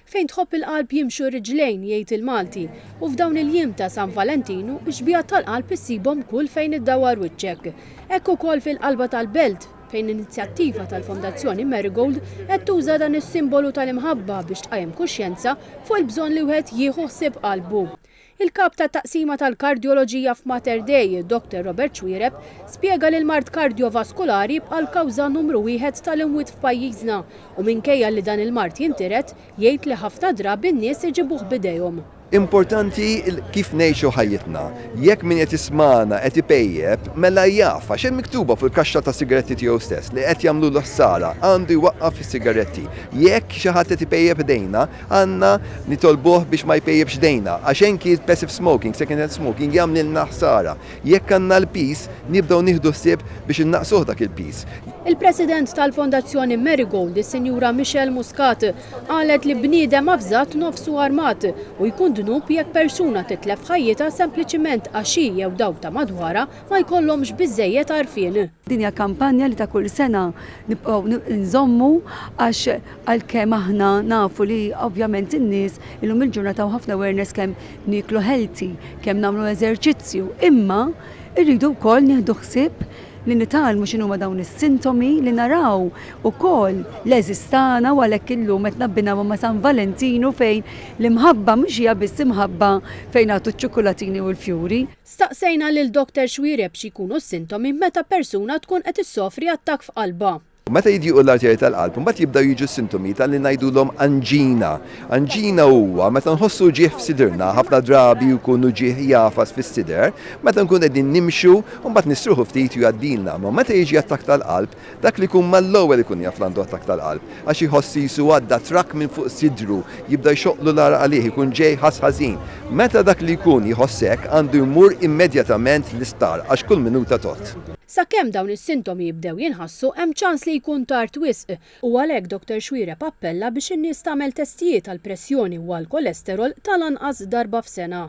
Fejn tħobb il-qalb jimxu r-riġlejn, jgħid il-Malti, u f'dawn il-jiem ta' San Valentinu, x-xbiehat tal-qalb issibhom kull fejn iddawwar wiċċek. Hekk ukoll fil-qalba tal-belt, fejn inizjattiva tal-Fondazzjoni Marigold qed tuża dan is-simbolu tal-imħabba biex tqajjem kuxjenza fuq il-bżonn li wieħed jieħu ħsieb qalbu. Il-Kap tat-Taqsima tal-Kardjoloġija f'Mater Dei, Dr. Robert Xuereb, spjega li l-mard kardjovaskulari jibqa' l-kawża numru wieħed tal-imwiet f'pajjiżna u minkejja li dan il-mard jintiret, jgħid li ħafna drabi n-nies iġibuh b'idejhom. Importanti kif ngħixu ħajjitna. Jekk min qed jismagħna qed ipejjep, mela jaf, għax hemm miktuba fuq il-kaxxa tas-sigaretti tiegħu stess li qed jagħmlulu ħsara, għandu jwaqqaf is-sigaretti. Jekk xi ħadd qed ipejjep idejna, Għandna nitolbuh biex ma jpejjipx idejna, għax anki l-passive smoking, second-hand smoking jagħmlilna ħsara. Jekk għandna l-piż, nibdew nieħdu ħsieb biex innaqqsuh dak il-piż. Il-President tal-Fondazzjoni Marigold, is-Sinjura Michelle Muscat, qalet li bniedem avżat nofsu armat u jkun dnub jekk persuna titlef ħajjitha sempliċiment għax hi jew dawk ta' madwarha ma jkollhomx biżżejjed għarfien. Din hija kampanja li ta' kull sena nibqgħu nżommu għax għalkemm aħna nafu li ovvjament in-nies illum il-ġurnata u ħafna awareness kemm nieklu healthy, kemm nagħmlu eżerċizzju, imma rridu wkoll nieħdu ħsieb li nitgħallmu x'inhuma dawn is-sintomi li naraw ukoll l-għeżież tagħna u għalhekk illum qed nabbinaw ma' San Valentinu fejn l-imħabba mhux hija biss imħabba fejn nagħtu ċ-ċukkulatini u l-fjuri. Staqsejna lil Dokter Xuereb x'jkunu s-sintomi meta persuna tkun qed issofri attakk f'qalbha. Meta jidjiequ l-arterji tal-qalb, imbagħad jibdew jiġu s-sintomi ta' li ngħidulhom anġina. Anġina huwa meta nħossu uġigħ f'sidrna, ħafna drabi jkun uġigħ jagħfas fis-sider, meta nkunu qegħdin nimxu u mbagħad nistrieħu ftit u jgħaddilna. Imma meta jiġi attakk tal-qalb, Dak li jkun ma l-ewwel ikun jaf l-għandu attakk tal-qalb, għax iħoss qisu għadda trakk minn fuq sidru, jibda jxoqqlu l-għaraq għalih, ikun ġej jħass ħażin. Meta dak li jkun jħoss hekk, għandu jmur immedjatament l-isptar, għax kull minuta tgħodd. Sakemm dawn is-sintomi jibdew jinħassu, hemm ċans li jkun tard wisq, u għalhekk Dottor Xuereb appella biex in-nies tagħmel testijiet għall-pressjoni u għall-kolesterol tal-anqas darba f'sena.